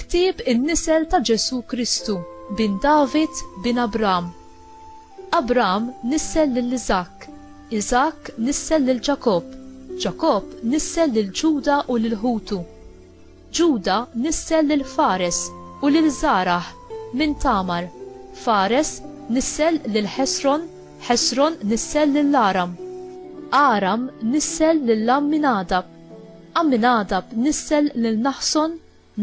Ktieb in-nisel ta' Ġesù Kristu bin David bin Abram. Abram nissel lil Iżakk, Iżakk nissel lil Ġakobb, Ġakobb nissel lil Ġuda u lil ħutu. Ġuda nissel lil Fares u lil Żarah minn Tamar, Fares nissel lil Ħesron, Ħesron nissel lil Aram, Aram nissel lil Għamminadab, Għamminadab nissel lil Naħson,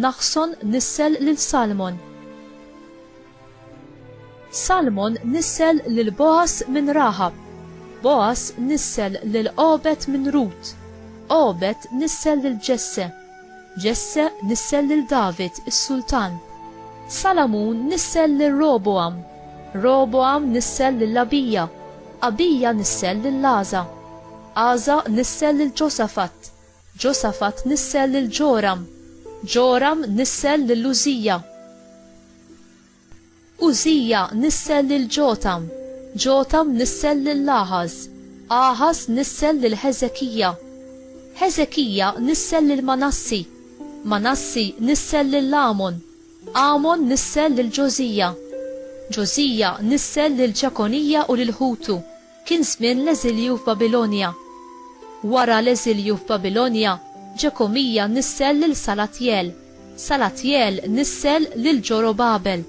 Naħson nissel lil Salmon. Salmon nissel lil Boas minn Raħab. Boas nissel lil Obed minn Rut. Obed nissel lil Ġesse. Ġesse nissel lil David, is-sultan. Salamun nissel lil Roboam. Roboam nissel lil Abija. Abija nissel lil Laza. Aza nissel lil Ġosafat. Ġosafat nissel lil Ġoram. Ġoram nissel lil Użija. Użija nissel lil Ġotam, Ġotam nissel lil Aħaż, Aħaż nissel lil Ħeżekija, Ħeżekija nissel lil Manassi, Manassi nissel lil Għamon, Għamon nissel lil Ġożija, Ġożija nissel lil Ġekonija u lil ħutu, Kien żmien l-eżilju f'Babilonja. Wara l-eżilju f'Babilonja, Ġekomija nissel lil Salatjel, Salatjel nissel lil Ġorobabel,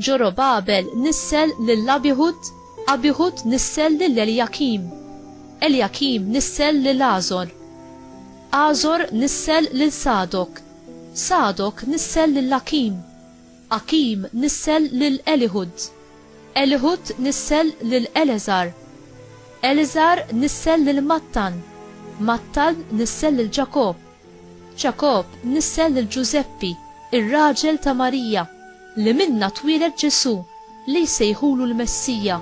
Ġorobabel nissel lil Abihud, Abihud nissel lil Eljakim, Eljakim nissel lil Għażor, Għażor nissel lil Sadok, Sadok nissel lil Akim, Akim nissel lil Elihud. Elihud nissel lil Eleżar. Eleżar nissel lil Mattan. Mattan nissel lil Ġakobb. Ġakobb nissel lil Ġużeppi, ir-raġel ta' Marija, li minnha twieled Ġesù, li jsejħulu l-Messija.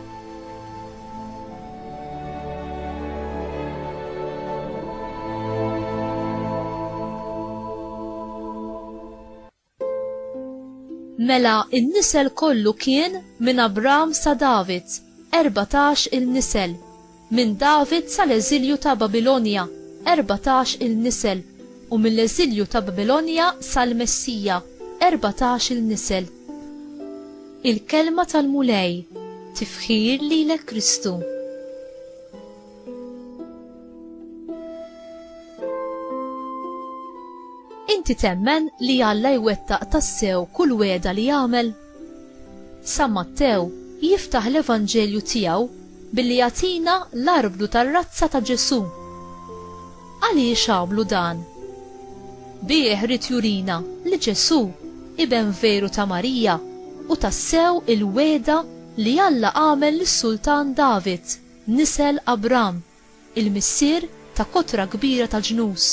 Mela n-nisel kollu kien minn Abram sa David, erbatax il-nisel, minn David sal-eżilju ta' Babilonja, erbatax il-nisel, u mill-eżilju ta' Babilonja sal-Messija, erbatax il-nisel. Il-Kelma tal-Mulej, Tifħir lilek Kristu. Inti temmen li Alla jwettaq tassew kull wegħda li jagħmel? San Mattew jiftaħ l-Evanġelju tiegħu billi jagħtina l-arblu tar-razza ta' Ġesù. Għaliex għamlu dan? Bih ried jurina li Ġesù iben veru ta' Marija u tassew il-wegħda li Alla għamel lis-Sultan David. Nisel Abram, il-missier ta' kotra kbira ta' ġnus.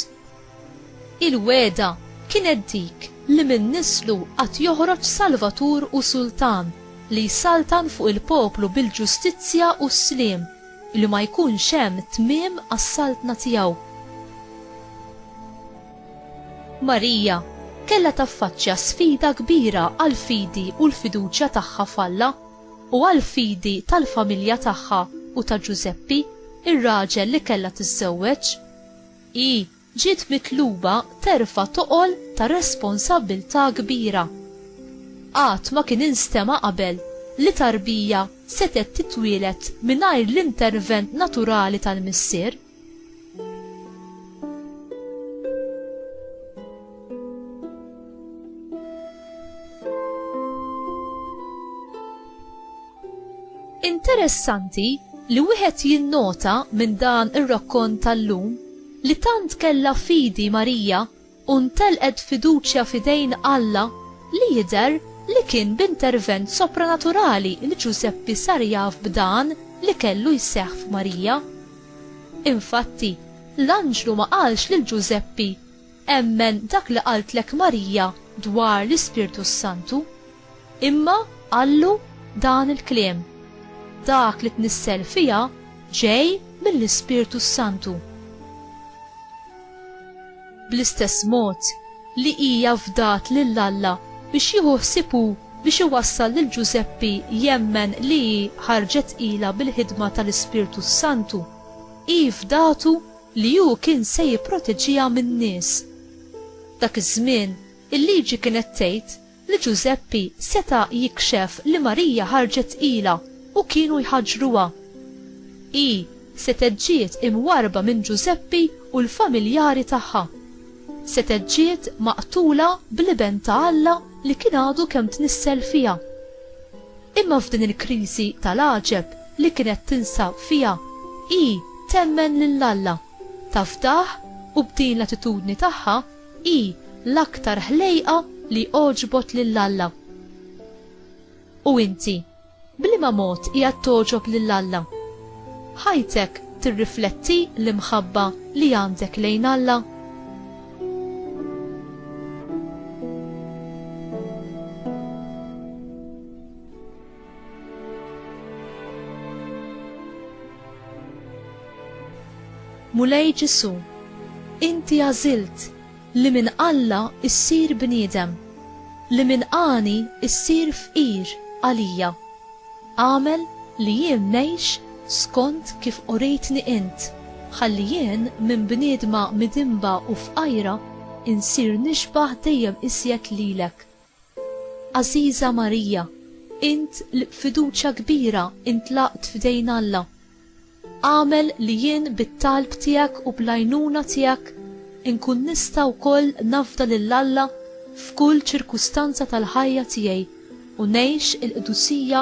Il-wegħda kienet dik li minn nislu għad joħroġ Salvatur u Sultan li jsaltan fuq il-poplu bil-ġustizzja u s-sliem, li ma jkunx hemm tmiem għas-saltna tiegħu. Marija kellha taffaċċja sfida kbira għall-fidi u l-fiduċja tagħha f'Alla. u għall-fidi tal-familja tagħha u ta' Ġużeppi, ir-raġel li kellha tiżżewweġ, hi ġiet mitluba terfa' toqol ta' responsabbiltà kbira. Qatt ma kien instema' qabel li tarbija setgħet titwieled mingħajr l-intervent naturali tal-missier. Interessanti li wieħed jinnota minn dan ir-rakkont tal-lum li tant kellha fidi Marija u ntelqet fiduċja f'idejn Alla li jidher li kien b'intervent sopranaturali li Ġużeppi sar jaf b'dan li kellu jseħħ f'Marija. Infatti, l-anġlu ma qalx lil Ġużeppi, Emmen dak li qaltlek Marija dwar l-Ispirtu s-Santu. Imma qallu dan il-kliem, Dak li tnissel fiha ġej mill-Ispirtu s-Santu. Bl-istess mod li hija fdat lil Alla biex jieħu ħsieb hu biex iwassal lil Ġużeppi jemmen li hi ħarġet ilha bil-ħidma tal-Ispirtu s-Santu, hi fdatu li hu kien se jipproteġiha min-nies. Dak iż-żmien, il-Liġi kienet tgħid li Ġużeppi seta' jikxef li Marija ħarġet tqila u kienu jħaġġruha. Hi setgħet ġiet imwarrba minn Ġużeppi u l-familjari tagħha. Setgħet ġiet maqtula bl-Iben ta' Alla li kien għadu kemm tnissel fiha. Imma f'din il-kriżi tal-għaġeb li kienet tinsab fiha, hi temmen lil Alla, tafdah u b'din l-attitudni tagħha, Hi l-aktar ħlejqa li għoġbot lil Alla. U inti, b'liema mod qiegħed togħġob lil Alla? Ħajtek tirrifletti l-imħabba li għandek lejn Alla? Mulej Ġesu, Inti għażilt li minn Alla issir bniedem, li minn għani issir fqir għalija. Agħmel li jien ngħix skont kif urejtni Int, ħalli jien minn bniedma midinba u fqajra insir nixbah dejjem iżjed lilek. Għażiża Marija, int li b'fiduċja kbira intlaqt f'idejn Alla, agħmel li jien bit-talb tiegħek u bl-għajnuna tiegħek inkun nista' wkoll nafda lil Alla f'kull ċirkustanza tal-ħajja tiegħi u ngħix il-qdusija